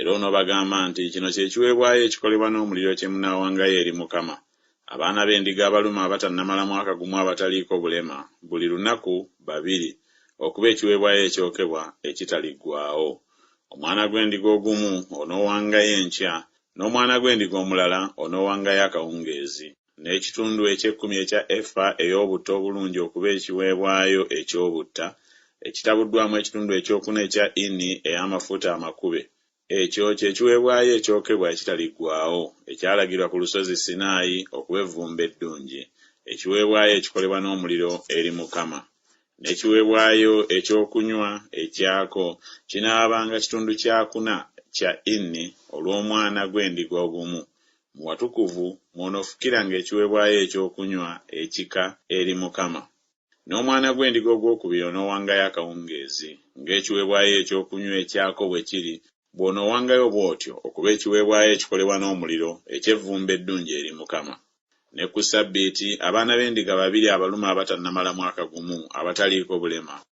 Era onoobagamba nti, Kino kye kiweebwayo ekikolebwa n'omuliro kye munaawangayo eri Mukama, abaana b'endiga abalume abatannamala mwaka gumu abataliiko bulema, buli lunaku babiri, okuba ekiweebwayo ekyokebwa ekitaliggwaawo. Omwana gw'endiga ogumu onoowangayo enkya, n'omwana gw'endiga omulala onoowangayo akawungeezi. N'ekitundu eky'ekkumi ekya efa ey'obutta obulungi okuba ekiweebwayo eky'obutta, ekitabuddwamu ekitundu ekyokuna ekya ini ey'amafuta amakube. Ekyo kye kiweebwayo ekyokebwa ekitaliggwaawo, ekyalagirwa ku Lusozi Sinaayi okuba evvumbe eddungi, ekiweebwayo ekikolebwa n'omuliro eri Mukama. N'ekiweebwayo eky'okunywa ekyako kinaabanga kitundu kyakuna kya ini olw'omwana gw'endiga ogumu, Mu watukuvu mw'onoofukiranga ekiweebwayo ekyokunywa ekika eri Mukama. N'omwana gw'endiga ogwokubiri onoowangayo akawungeezi, ng'ekiweebwayo ekyokunywa ekyako bwe kiri, bw'onoowangayo bw'otyo okuba ekiweebwayo ekikolebwa n'omuliro eky'evvumbe eddungi eri Mukama. Ne ku Ssabbiiti, abaana b'endiga babiri abalume abatannamala mwaka gumu, abataliiko bulema,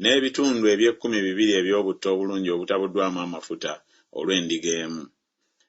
n'ebitundu eby'ekkumi bibiri eby'obutto obulungi obutabuddwamu amafuta olw'endiga emu,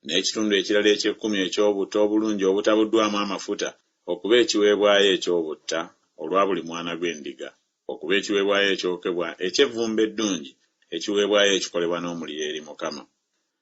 n'ekitundu ekirala eky'ekkumi eky'obutto obulungi obutabuddwamu amafuta okuba ekiweebwayo eky'obutta olwa buli mwana gw'endiga, okuba ekiweebwayo ekyokebwa eky'evvumbe eddungi, ekiweebwayo ekikolebwa n'omuliro eri Mukama.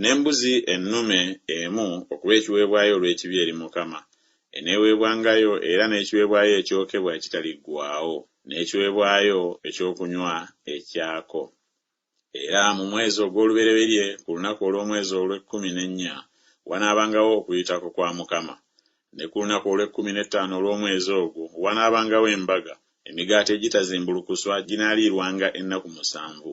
N'embuzi ennume emu okuba ekiweebwayo olw'ekibi eri Mukama, eneeweebwangayo, era n'ekiweebwayo ekyokebwa ekitaliggwaawo, n'ekiweebwayo eky'okunywa ekyako. Era mu mwezi ogw'olubereberye, ku lunaku olw'omwezi olw'ekkumi n'ennya, wanaabangawo Okuyitako kwa Mukama. Ne ku lunaku olw'ekkumi n'ettaano olw'omwezi ogwo, wanaabangawo embaga, emigaati egitazimbulukuswa ginaaliirwanga ennaku musanvu.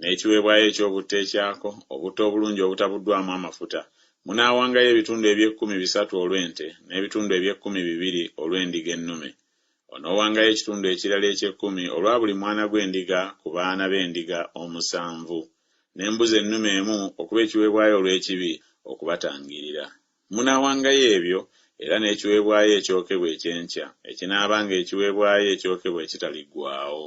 n'ekiweebwayo eky'obutta ekyako, obutta obulungi obutabuddwamu amafuta. Munaawangayo ebitundu eby'ekkumi bisatu olw'ente, n'ebitundu eby'ekkumi bibiri olw'endiga ennume. Onoowangayo ekitundu ekirala eky'ekkumi olwa buli mwana gw'endiga ku baana b'endiga omusanvu, n'embuzi ennume emu okuba ekiweebwayo olw'ekibi okubatangiirira. Munaawangayo ebyo, era n'ekiweebwayo ekyokebwa eky'enkya, ekinaabanga ekiweebwayo ekyokebwa ekitaliggwaawo.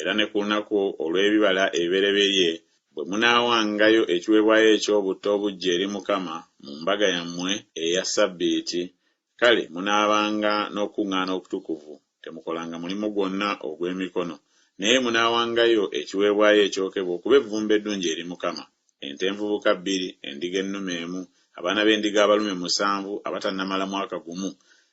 Era ne ku lunaku olw'ebibala ebibereberye bwe munaawangayo ekiweebwayo eky'obutta obuggya eri Mukama mu mbaga yammwe eya ssabbiiti, kale munaabanga n'okukuŋŋaana okutukuvu, temukolanga mulimu gwonna ogw'emikono, naye munaawangayo ekiweebwayo ekyokebwa okuba evvumbe eddungi eri Mukama, ente envubuka bbiri, endiga ennume emu, abaana b'endiga abalume musanvu abatannamala mwaka gumu,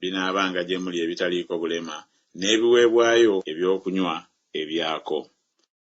binaabanga gye muli ebitaliiko bulema, n'ebiweebwayo eby'okunywa ebyako.